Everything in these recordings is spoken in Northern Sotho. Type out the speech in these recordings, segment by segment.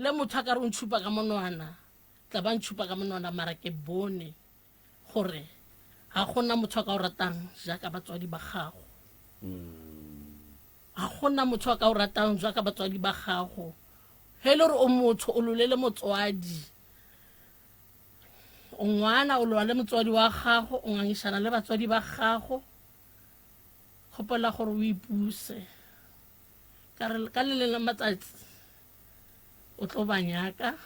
Le motho a ka re o ntšhupa ka monwana, tla ba ntšhupa ka monwana, mara ke bone gore ga gona motho a ka o ratang jaaka batswadi ba gago. Ga gona motho a ka o ratang jaaka batswadi ba gago. Ge e le gore o motho, o lolele motswadi. O ngwana, o lwa le motswadi wa gago, o ngangišana le batswadi ba gago. Kgopela gore o ipuse ka re ka le leng la matsatsi o tlo ba nyaka,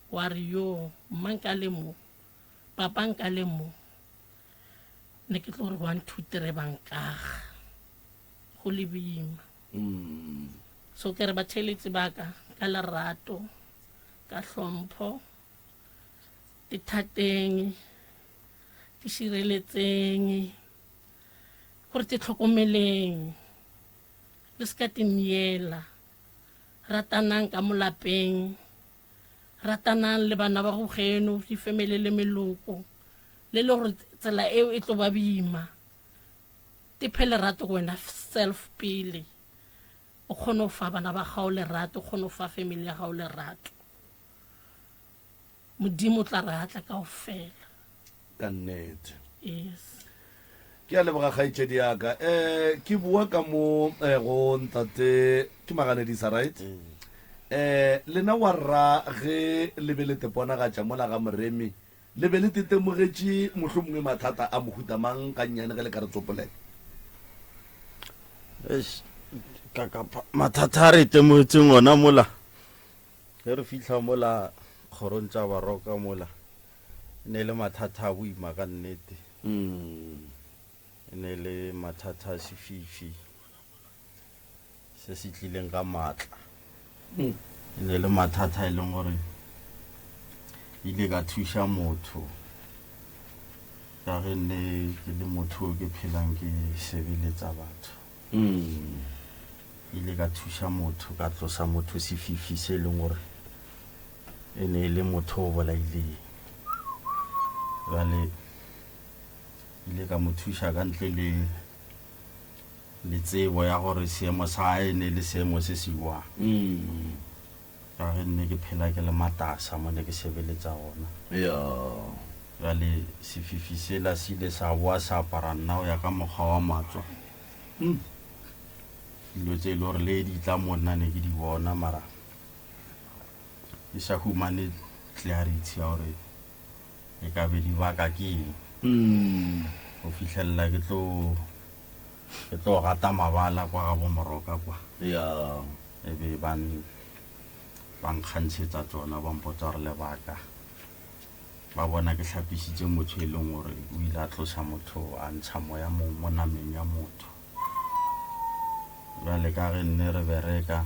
wa re yo mma nka le mo, papa nka le mo, ne ke tlo re one two three ba nkaga go le boima. Mm. So ke re batheeletsi ba ka ka lerato, ka hlompho, ithateng, itšhireletseng. gore te hlokomeleng le se ka te myela ratanang ka molapeng ratanang le bana ba go geno di family le meloko le le gore tsela eo e tlo ba bima te phe lerato go wena self pele o kgone go fa bana ba gago lerato o kgone go fa family ya gago lerato Modimo o tla re atla kaofela. Ka nnete. Yes. Ke a leboga kgaetšedi ya ka. Um ke bua ka mo eh, go ntate ke maganedisa right? um lena wa rra ge le be le teponagatša mola ga moremi le be le tetemogetše mohlho mongwe mathata a mohuta mang ka nnyane ge le ka re tsopolela Eish, ka- ka- mathata a re itemogetseng ona mola Ge re fihla mola kgorong tša baroka mola, e ne e le mathata a boima ka nnete. E ne e le mathata a sefifi se se tlileng ka maatla. E ne e le mathata e leng gore ile ka thuša motho ka ge nne ke le motho o ke phelang ke sebeletsa batho. Ke ile ka thuša motho ka tlosa motho sefifi se e leng gore e ne e le motho o bolaileng. Jale ile ka mo thuša ka ntle le le tsebo ya gore seemo sa hae e ne e le seemo se se jwang. Ka ge nne ke phela ke le matasa mo ne ke sebeletsa gona. Eya. Bjale sefifi sela se ile sa boa sa apara nna go ya ka mokgwa wa matswa. Umm. Dilo tse e le gore le di tla mo nna ne ke di bona mara ke sa humane clarity ya gore e ka be di baka ke eng. Umm. Go fihlelela ke tlo Ke tlo gata mabala kwa ga bomoroka kwa. E be ba ba nkgantshetsa tsona ba mpotsa gore lebaka ba bona ke hlapisitse motho e leng gore o ile a tlosa motho a ntsha moya mong mo nameng ya motho jale ka ge nne re bereka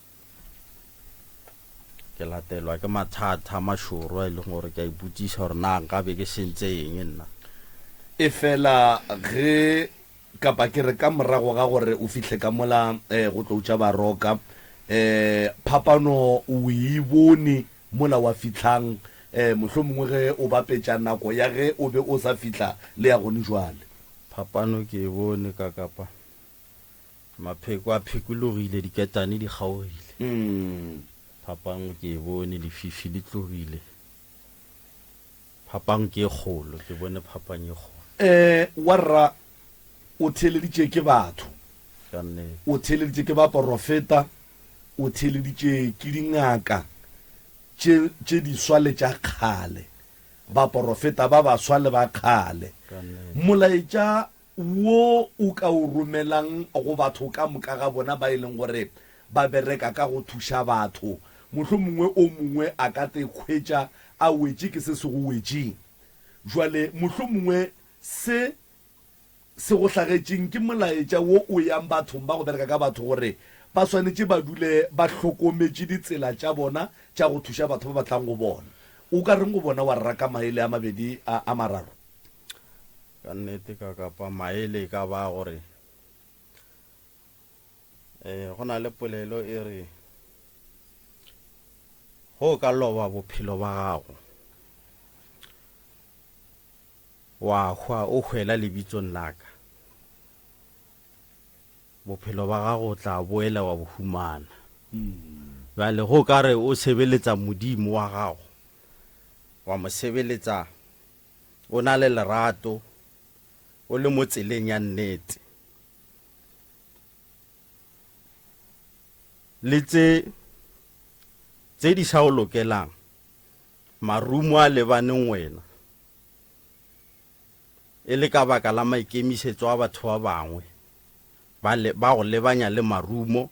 Ke latelwa ke mathata a mašoro a e leng gore ke a ipotšiša gore na nka be ke sentse eng nna. Efela ge, kapa ke re ka morago ga gore o fihle ka mola go tlo tša baroka, phapano o e bone mola wa fihlang, mohlomongwe ge o bapetša nako ya ge o be o sa fihla le ya gone bjale? Phapano ke e bone ka kapa Mapheko a phekologile, diketane di kgaogile. Phapang ke e bone, lefifi le tlogile. Phapang ke e kgolo, ke bone phapang e kgolo. Ee, warra, o theeleditše ke batho. Ka nnete. O theeleditše ke baporofeta, o theeleditše ke dingaka tše, tše diswa le tša kgale, baporofeta ba baswa le ba kgale. Ka nnete. Molaetša wo o ka o romelang go batho ka moka ga bona ba e leng gore ba bereka ka go thuša batho. Mohlomongwe o mongwe a ka te hwetša a wetše ke se se go wetšeng. Bjale, mohlomongwe se se go hlagetšeng ke molaetša wo o yang bathong ba go bereka ka batho gore ba swanetše ba dule ba hlokometše ditsela tša bona tša go thuša batho ba ba tlang go bona. O ka reng go bona wa rera ka maele a mabedi a mararo? Ka nnete ka kapa maele e ka ba gore e, go na le polelo e re go o ka loba bophelo ba gago wa hwa o hwela lebitsong la ka, bophelo ba gago o tla boela wa bo humana. Bjale go ka re o sebeletsa Modimo wa gago, wa mo sebeletsa O na le lerato. O le mo tseleng ya nnete. Le tse tse di sa o lokelang, marumo a lebaneng wena, e le ka baka la maikemisetso a batho ba bangwe, ba le, ba go lebanya le marumo,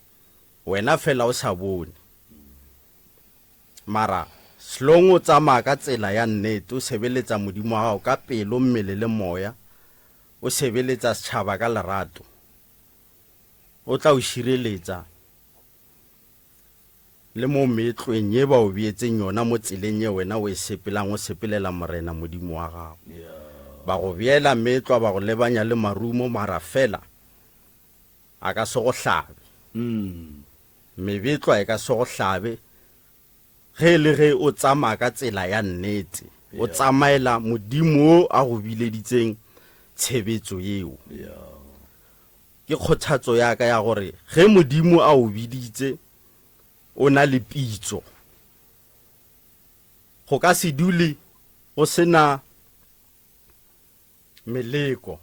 wena fela o sa bone. Mara, hlong o tsamaya ka tsela ya nnete, o sebeletsa Modimo wa gago ka pelo, mmele le moya, o sebeletsa setšhaba ka lerato, O tla o šireletsa le mo meetlweng ye ba o beetseng yona mo tseleng ye wena o e sepelang o sepelela Morena Modimo wa gago. Ba go beela meetlwa, ba go lebanya le marumo, mara feela A ka se go hlabe. Mebetlwa e ka se go hlabe ge e le ge o tsamaya ka tsela ya nnete, o tsamaela Modimo yo a go bileditseng tshebetso yeo. Ke kgothatso ya ka ya gore ge Modimo a o biditse, o na le pitso. Go ka se dule go se na meleko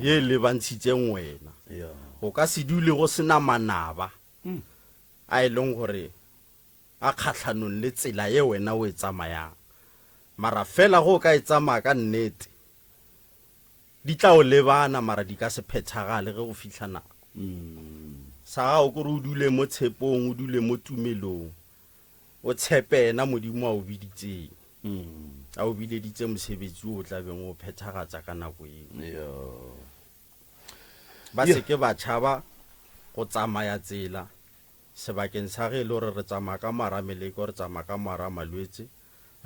ye e lebantshitseng wena go ka se dule go sena manaba hmm. a e leng gore a kgatlhanong le tsela ye wena o e tsamayang mara fela go ka e tsamaya ka nnete di tla o lebana mara di ka se phethagale ge go fitlha nako hmm. sa gago kore o dule mo tshepong o dule mo tumelong O tshepe yena Modimo a o biditseng. A o bileditse mosebetsi o o tla beng o o phethagatsa ka nako eo. Ba se ke ba tšhaba go tsamaya tsela sebakeng sa ge e le gore re tsamaya ka mogara meleko, re tsamaya ka mogara malwetse,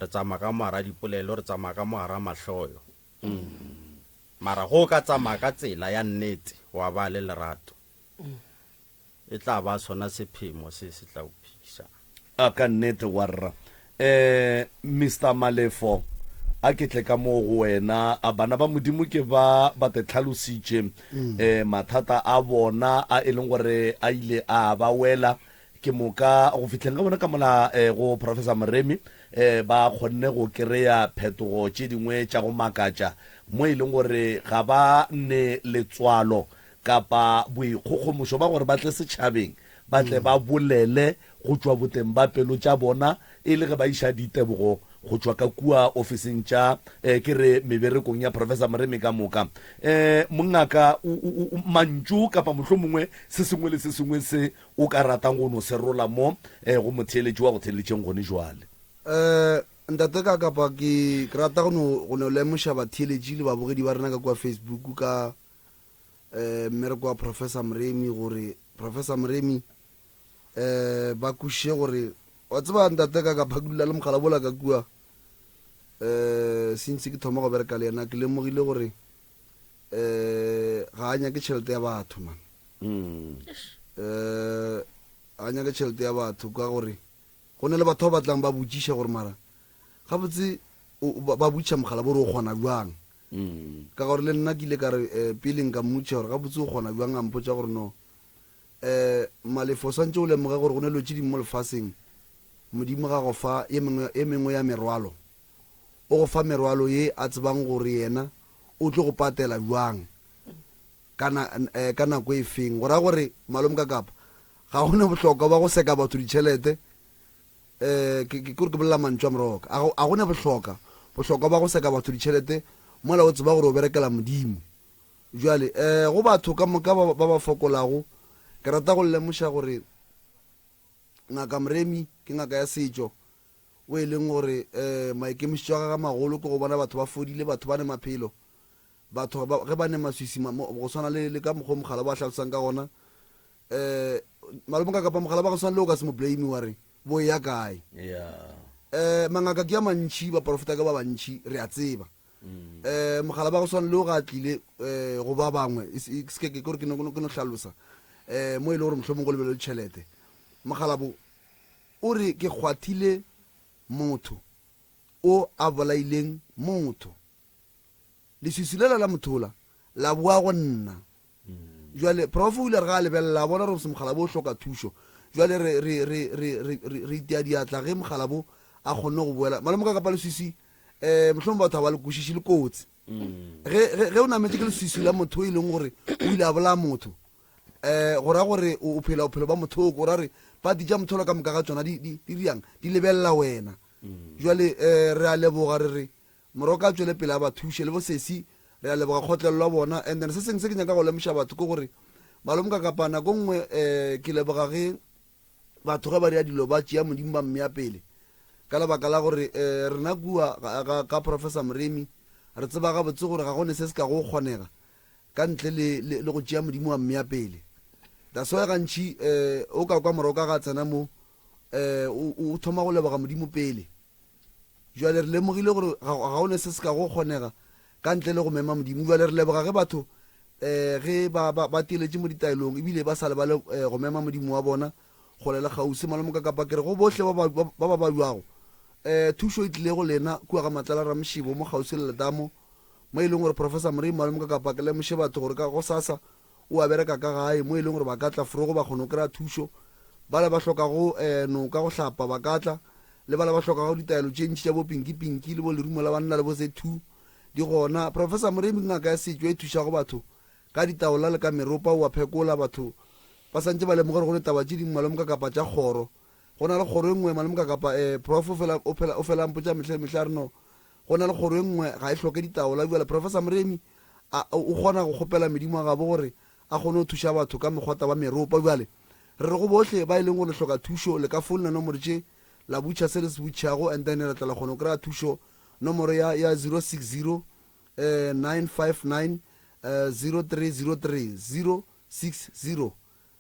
re tsamaya ka mogara dipolelo, re tsamaya ka mogara mahloyo. Mara ge o ka tsamaya ka tsela ya nnete, wa ba le lerato, e tla ba sona sephemo se se tla o phedisang. A ka nnete, warra. Um, Mister Malefo, a ke tle ka moo go wena. A bana ba Modimo ke ba ba te tlhalositše um mathata a bona a e leng gore a ile a ba wela ke moka go fihleng ga bona ka mola um go Professor Moremi um ba kgonne go kry-a phetogo tše dingwe tša go makatša mo e leng gore ga ba ne letswalo kapa boikgogomošo ba gore ba tle setšhabeng, ba tle ba bolele go tšwa boteng ba pelo tša bona e le ge ba iša ditebogo go tšwa ka kua ofising tša, eh, ke re meberekong ya Professor Moremi ka moka. Eh, mongaka, u, u, u, mantšu kapa mohlomongwe se sengwe le se sengwe se o ka ratang go no se rola mo, eh, go motheeletši wa go theeletšeng gone jwale. Eh, Ntate ka kapa ke, ke rata go no, go no lemoša batheeletši le babogedi ba rena ka kua Facebook ka, mmereko wa Professor Moremi gore Professor Moremi um ba kwešiše gore wa tseba ntate ka ka phakulela le mogala bola ka kua um since ke thoma go bereka le yena ke lemogile gore um ga a nyake tšhelete ya batho man um a nyake tšhelete ya batho ka gore go ne le batho ba batlang ba botšiša gore mara gabotse ba botšiša mogala bo re o kgona bjang Ka gore le nna ke ile ka re, pele nka mmotšiša gore gabotse o kgona bjang, a mpotša gore, No. Um, Malefo, o swantše o lemoge gore go na le dilo tše dingwe mo lefaseng. Modimo ga go fa ye mengwe, ye mengwe ya merwalo. O go fa merwalo ye a tsebang gore Yena o tlo go patela bjang, ka na, um, ka nako e feng. Go ra gore, Malome Kakapa, ga go na bohlokwa bja go seka batho ditšhelete, Ke ke gore ke bolela mantšu a moroka. A go, a go ne bohloka, bohlokwa bwa go seka batho ditšhelete mola o tseba gore o berekela Modimo. Bjale, go batho ka moka ba, ba ba fokolago, ke rata go le lemoša gore Ngaka Mremi ke ngaka ya setšo, wo e leng gore maikemišetšo a gagwe a magolo ke go bona batho ba fodile, batho ba ne maphelo, Batho ba, ge ba ne maswisi, ma, mo, go swana le, le ka mokgwa o mogala ba hlalosang ka gona, um, malome ka kapa mogala ba go swana le o ka se mo blame wa re, bo eya kae? Yeah. Um, mangaka ke a mantši, baporofeta ke ba bantši, re a tseba. Mm. Um, mogala ba go swana le o ga tlile, um, go ba bangwe, e se, se ke, ke, ke, ke no, ke no hlalosa, um, mo e le gore mohlomong go lebelelo tšhelete. Mogala bo, o re, ke kgwathile motho o a bolaileng motho. leswiswi lela la mothola la boa go nna jale prof o ile re ga a lebelela a bona gore mokgalabo o hloka thušo jale re itea diatla ge mokgalabo a kgonne go boela malome ka kapa leswiswi um eh, mohlomong batho ga ba le kwešiši le kotsi mm. ge o nametse ke leswiswi la motho e leng gore o ile a bolaya motho um go ra gore o phela bophelo ba mothoko o ra re pati ja motholo ka moka ga tsona di riang di lebelela wena mm. jale um re a leboga re re Moroka a tšwele pele a ba thuše. Le bo sesi re a leboga kgotlelo la bona. And then se seng se ke nyaka go lemoša batho ke gore Malomka kapa nako nngwe eh ke leboga ge batho ge ba dira dilo ba tšea Modimo ba mmea pele ka lebaka la gore eh rena kua ka ka Professor Moremi re tseba gabotse gore ga go ne se se ka go kgonega ka ntle le le go tšea Modimo wa mmea pele. That's why gantši eh o ka kwa Moroka ga tsena mo eh o thoma go leboga Modimo pele. Bjale re lemogile gore ga, ga go ne se se ka go kgonega ka ntle le go mema Modimo. Bjale re leboga ge batho um ge ba, ba, ba teletše mo ditaelong ebile ba sa lebale um go mema Modimo wa bona kgole le kgauswi. Malomokakapa, ke re go bohle ba ba, ba, ba ba balwago, um thušo e tlile go lena kua ga Matlala Ramošebo mo kgauswi le letamo, mo e leng gore Professor Morei Malomokakapa ke lemoše batho gore ka gosasa o a bereka ka gae mo e leng gore ba ka tla fro go ba kgona go kry-a thušo. Bale ba hlokago um noka go hlapa ba ka tla, le bale ba hlokago ditaelo tše ntši tša bo pinki pinki le bo lerumo la banna le bo ze two di gona. Professor Moremi ke ngaka ya setšo e thušago batho ka ditaola le ka meropa, o a phekola batho ba santše ba lemoge gore go le taba tše dingwe malome kakapa tša kgoro. Go na le kgoro e nngwe malome kakapa um prof o fela o phela o fela a mpotša mehla le mehla a re no Go na le kgoro e nngwe, ga e hloke ditaola. Bjale, Professor Moremi, a, o, o kgona go kgopela Modimo wa gabo gore A kgone go thuša batho ka megwata wa meropa. Bjale, re re go bohle ba e leng gore le hloka thušo, le ka founela nomoro tše, la butšha se le se butšhago, and then re tla la kgona go kry-a thušo, nomoro ya, ya 060, eh, 959, eh, 0303, 060.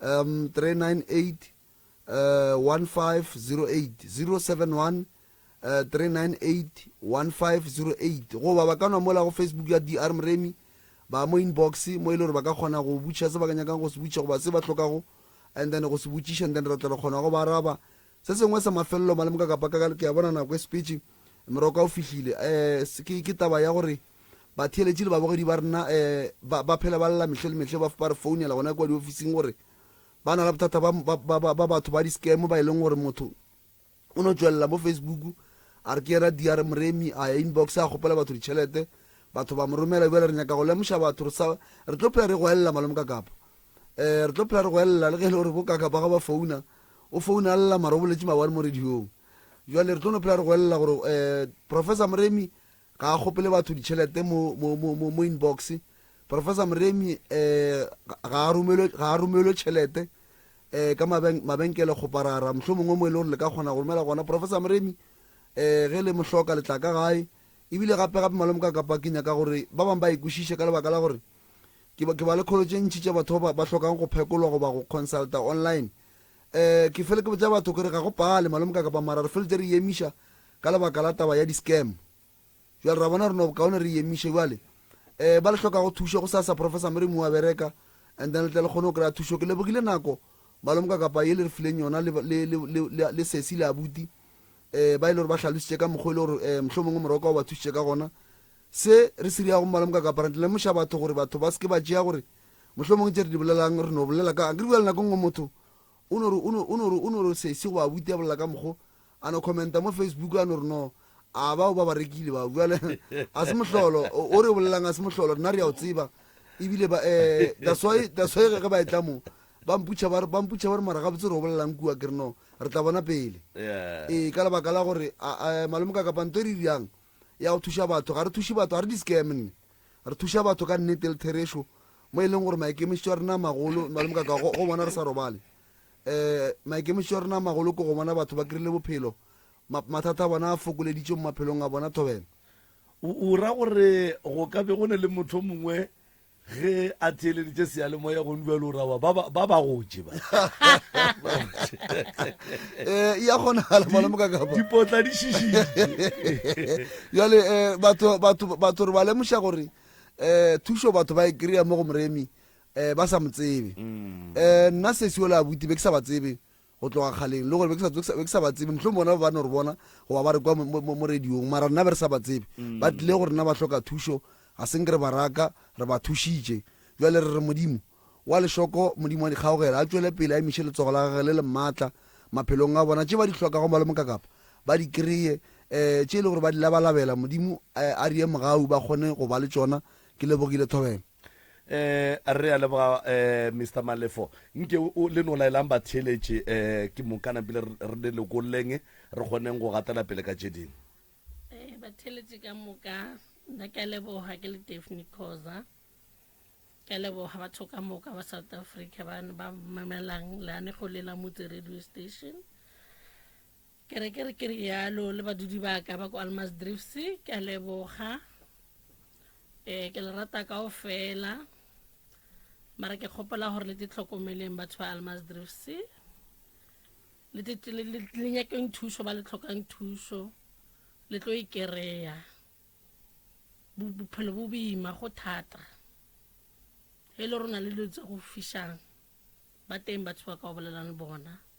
398 1508 goba ba ka nwa mola go facebook ya dr mremi ba mo inbox mo e le gore ba ka kgona go butšha se ba ka nyakang go se butšha goba se ba hlokago and then go se botšiša and then re tla re kgona go ba araba Se sengwe sa mafelelo malemo ka kapa ka ke a bona nako e sepetše, meroko o fihlile, um ke, ke taba ya gore batheeletši le babogedi ba rena um ba, ba phela ba lla mehle le mehle, ba, ba re founela gona kua diofising gore ba na le bothata ba, ba, ba, ba, ba batho ba di-scam ba e leng gore motho o no tšwelela mo Facebook a re ke yena DR Moremi a ya inbox a kgopela batho ditšhelete batho ba mo romela bjale re nyaka go lemoša batho re sa re tlo phela re go elela malome ka kapa um re tlo phela re go elela le ge e le gore bo ka kapa ga ba founa O founa a lla mara o boletše mawari mo radiong. Jwale re tlo no phela re goelela gore um Professor Moremi ga a kgopele batho ditšhelete mo, mo, mo, mo, mo inbox. Professor Moremi um ga a romelwe, ga a romelwe tšhelete um ka maben-, mabenkele kgoparara. Mohlomongwe o mo e le gore le ka kgona go romela gona. Professor Moremi um ge le mo hloka le tla ka gae. Ebile gape-gape malome ka kapa ke nyaka gore ba bangwe ba e kwešiše ka lebaka la gore Ke, ke ba le kholo tše ntši tša batho ba ba hlokang go phekolwa goba go consulta online. Eh, ke fele ke botša batho ke re ga go pale, malome ka kapa mara re feletše re e emiša ka lebaka la taba ya di-scam. Bjale ra bona gore no bokaone re e emiše. Bjale eh, ba le hlokago thušo go sa sa Professor Merriam wa bereka and then le tle le kgone go kry-a thušo. Ke lebogile nako malome ka kapa ye le re fileng yona le, le, le, le, le, le sesi le abuti eh, ba e le gore ba hlalositše ka mokgwa e le gore eh, mohlomongwe morwa ka o ba thušitše ka gona. Se re se dirago mmala moka kapareng, re lemoša batho gore batho ba se ke ba tšea gore mohlomongwe tše re di bolelang re no bolela ka. Akere bjale nako nngwe motho o no re, o no, o no re, o no re sesi goba abuti a bolela ka mokgo, a no commenta mo Facebook, a no re no, a bao ba ba rekile bao. Bjale a se mohlolo o, o re o bolelang, a se mohlolo, rena re a o tseba. Ebile ba, eh, that's why, that's why ge ba etla mo, ba mputšha ba re, ba mputšha ba re mara gabotse re o bolelang kua, ke re no, re tla bona pele. Yeah. Ee, ka lebaka la gore a, a, malome ka kapa nto e re dirang, ya go thuša batho. Ga re thuše batho, ga re di-scam nne. Re thuša batho ka nnete le therešo mo e leng gore maikemišetšo a rena a magolo, Malome Kaka, go go bona re sa robale. Um maikemišetšo a rena a magolo ke go bona batho ba kry-ile bophelo, ma- mathata a bona a fokoleditšwe mo maphelong a bona. Thobela. O o ra gore go ka be go ne le motho o mongwe Ge a theeleditše seyalemoya go ndwa lo rawa ba ba ba gotše ba. Eh ya gona hala mala mo ka ka ba. Dipotla di shishi. Ya le eh batho batho batho re ba lemusha gore eh thusho batho ba e kry-a mo go moremi eh ba sa mo tsebe. Mm. Eh nna se se ola abuti be ke sa ba tsebe. go tloga kgaleng, le gore be ke sa, be ke sa, be ke sa ba tsebe. Mohlomong bona ba ba no re bona goba ba re kwa mo, mo, mo radiong, mara rena be re sa ba tsebe. Ba tlile go rena, ba hloka thušo, ga se nke re ba raka, re ba thušitše. Bjale re re Modimo wa lešoko, Modimo wa dikgaogelo, a tšwele pele a emiše letsogo la Gagwe le le maatla maphelong a bona. Tše ba di hlokago, ba le mokakapa, ba di kreye, um tše e le gore ba di labalabela, Modimo a di ye mogau, ba kgone go ba le tšona. Ke lebogile thobela. eh re a leboga eh Mr Malefo nke o le no laelang ba theeletše eh ke mokana pele re le lokolleng re kgoneng go gatela pele ka tše ding eh ba theeletše ka moka nna ke a leboga ke le Daphne Khoza ke a leboga batho ka moka ba South Africa ba ba mamelang leanego le la motse radio station Ke re ke re ke rialo le badudi ba ka ba ko Almas Drifts ke a leboga eh ke le rata kao fela mara ke kgopela gore le te tlhokomeleng batho ba Almas Drifts le te le le- le- le nyakeng thušo ba le tlhokang thušo le tlo e kereya Bo- bophelo bo boima go thata e le rona le dilo tse go fišang ba teng batho ba ka o bolelang le bona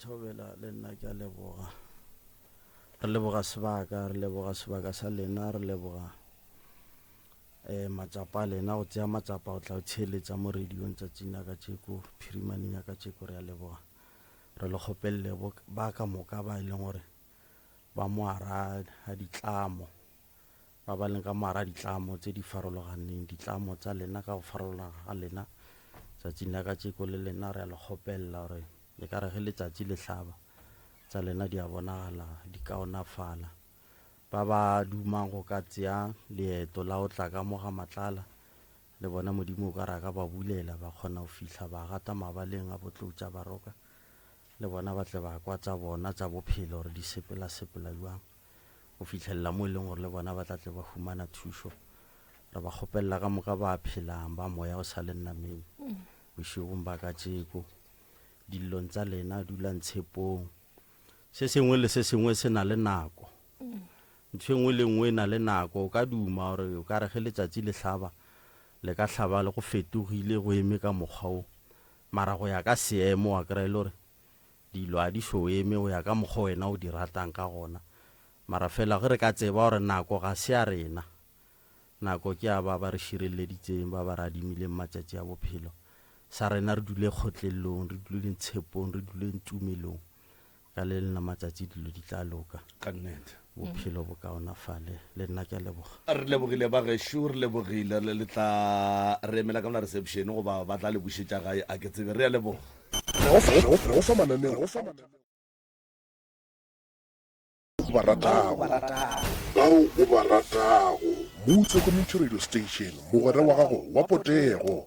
Thobela le nna ke a leboga. Re leboga sebaka, re leboga sebaka sa lena, re leboga um matsapa a lena go tsea matsapa go tla go tsheeletsa mo radiong tsatsing la kacheko, phirimaneng ya kacheko. Re a leboga, re le kgopelele ba ka moka ba e leng gore ba moara ga ditlamo Ba ba leng ka moara ditlamo tse di farologaneng, ditlamo tsa lena ka go farologana ga lena, tsatsing la kacheko le lena re a le kgopelela gore e ka re ge letsatsi le hlaba, tsa lena di a bonagala di kaonafala. Ba ba dumang go ka tsea leeto la go tla ka mo ga Matlala, le bona Modimo o ka re a ka ba bulela, ba kgona go fihla ba gata mabaleng a Botloutša Baroka, le bona ba tle ba kwa tsa bona tsa bophelo gore di sepela-sepela bjang. go fihlelela mo e leng gore le bona ba tla tle ba humana thušo re ba kgopelela ka moka ba phelang ba moya o sa le nnameng mm. bošegong ba ka tšeko dilong tsa lena dulang tshepong se sengwe le se sengwe se na le nako mm. ntho e nngwe le nngwe e na le nako o ka duma gore o ka re ge letsatsi le hlaba le ka hlaba le go fetogile go eme ka mokgwa o mara go ya ka seemo wa kry-e le gore Dilo a di so eme go ya ka mokgwa wena o di ratang ka gona. Mara fela ge re ka tseba gore nako ga se ya rena, nako ke ya ba ba re širelleditseng, ba ba re adimileng matšatši a bophelo, sa rena re dule kgotlellong, re duleng tshepong, re duleng tumelong. Ka le lena matšatši dilo di tla loka. Ka nnete. Bophelo bo kaonafale. Le nna ke a leboga. Re lebogile bagešo, re lebogile. Le le tla re emela ka mola reception goba ba tla le bušetša gae a ke tsebe. Re a leboga. Re go fa mananeo o ba ratago, bao o ba ratago. Mutse Community Radio Station, mogwera wa gago wa potego.